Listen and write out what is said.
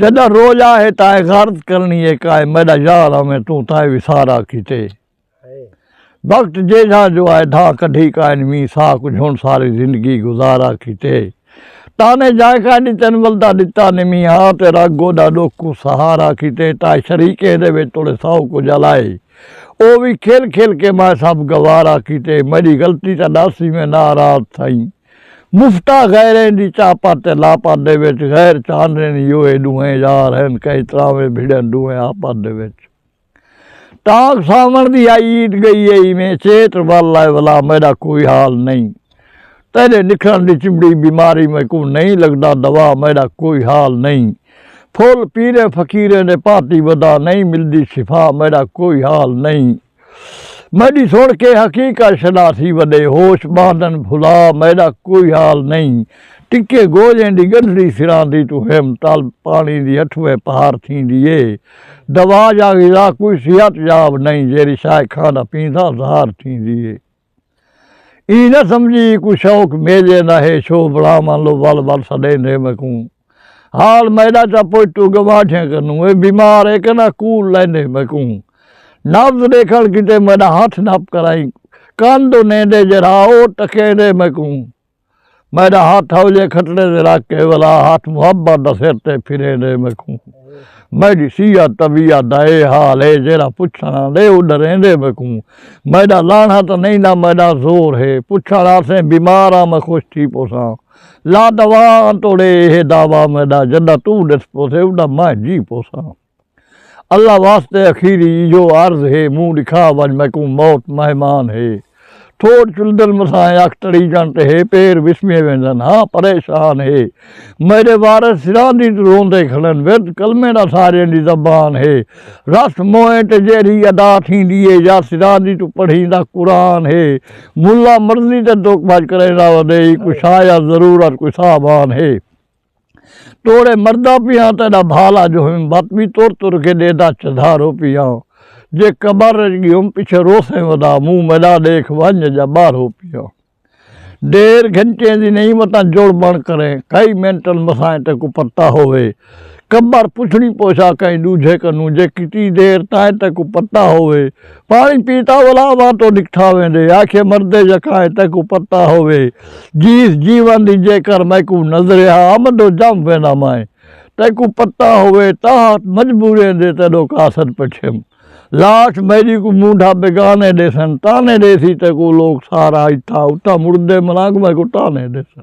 جݙاں روج آہے تاں اے غرض کرݨی اے کائے میݙا یار آویں توں تاں اے وی سارا کیتے وقت جیجھا جو آئے دھا کڈھی کائن ویں سا کچھ ہن ساری زندگی گزارا کیتے تانے جائے کائے ڈتن ولدا ڈتا نے مینہ آ تے رگ گوڈا ڈوکھ کو سہارا کیتے تائے شریک اے دے وچ توڑے ساؤ کو جلائے او وی کھل کھل کے مائے سب گوارا کیتے میڈی غلطی تاں ڈاسی میں نارات تھائیں مفتا غیریں دی چاپا تے لاپا دے وچ غیر چانرین یو اے ڈوہیں یار ہن کہیں تراویں بھڑن ڈوہیں آپا دے وچ تاک ساون دی آئی عید گئی اے ایویں چیٹ ول اے ولا میڈا کوئی حال نہیں تیڈے نکھرن دی چمڑی بیماری میکوں نہیں لگدا دوا میڈا کوئی حال نہیں پھول پیریں فقیریں دے پاتی ودا نہیں ملدی شفا میڈا کوئی حال نہیں۔ میݙی سݨ کے حقیقت شناسی وݙے ہوش ٻاندن بھلا میݙا کوئی حال نئیں ٹکے گوجیں دی ڳنڈھڑی سراندی توں ہم طلب پاݨی دی اٹھوے پہر تھیندی اے دوا یا غذا کوئی صحت یاب نئیں جیڑھی شائے کھاندا پینداں ظاہر تھیندی اے۔ ایں نہ سمجھی کوئی شوق میجے نہ ہے شو بلاواں لو ول ول سڈیندے میکوں حال میڈا چا پوچھتو گواٹھیاں کنوں اے بیمار اے کہ نہ کول لیندے میکوں نبض ڈیکھن کیتے میڈا ہتھ نپ کرائیں کن دو نیندے جرھا او ٹکیندے میکوں۔ میݙا ہتھ ہولیے کھٹڑے تے رکھ کے ولا ہتھ محبت دا سر تے پھرے ݙے میکوں میݙی سیاہ طبیعت دا اے حال اے جیڑھا پچھݨ آندے او ݙریندے میکوں میݙا لانہہ تاں نئیں نہ میݙا زور ہے پچھݨ آسیں بیمار آں میں خوش تھی پوساں لا دوا آں توڑے ایہے دعوی میݙا جݙاں توں ݙس پوسے اݙاں میں جی پوساں۔ اللہ واسطے اخیری ایہو عرض ہے منہ ڈکھا ونج میکوں موت مہمان ہے ٹھوڈ چلدن مسائیں اکھ تڑیجن تے ہے پیر وسمیے ویندن ہاں پریشان ہے میڈے وارث سراں دی روندے کھڑن ورد کلمے دا ساریاں دی زبان ہے رس موئیں تے جیرھی ادا تھیندی ہے یا سراں دی توں پڑھیندا قرآن ہے ملا مرضی تے دکھ بھج کریندا ودے ہی کوئی شاید ضرورت کوئی سامان ہے۔ توڑے مردا پیاں تیڈا بھال اج ہویم بت وی تر تر کے ڈیدا چدھارو پیاں جے قبر اچ گیوم پچھے روسیں ودا منہ میڈا ڈیکھ ونج جا باہرو پیاں ڈیر گھنٹیں دی نہیں وتاں جڑ بن کریں کئی منٹل مسائیں تیکوں پتا ہووے قبر پچھنی پوچھا کہیں ڈوجھے کنوں جے کتی دیر تائیں تیکوں پتا ہووے۔ پاݨی پیتا ولا اواں توں نکٹھا ویندے۔ آکھیے مردے یکائیں تیکوں پتہ ہووے۔ جیس جیون دی جیکر میکوں نظریا آمد و جم ویندا مائیں۔ تیکوں پتہ ہووے تاہت مجبوریں دے تیڈو قاصد پچھیم۔ لاش میڈی کوں مونڈھا بیگانے ڈیسن تانے ڈیسی تیکوں لوک سارا اتھاں اتھاں مردے ملانگ میکوں تانے ڈیسن۔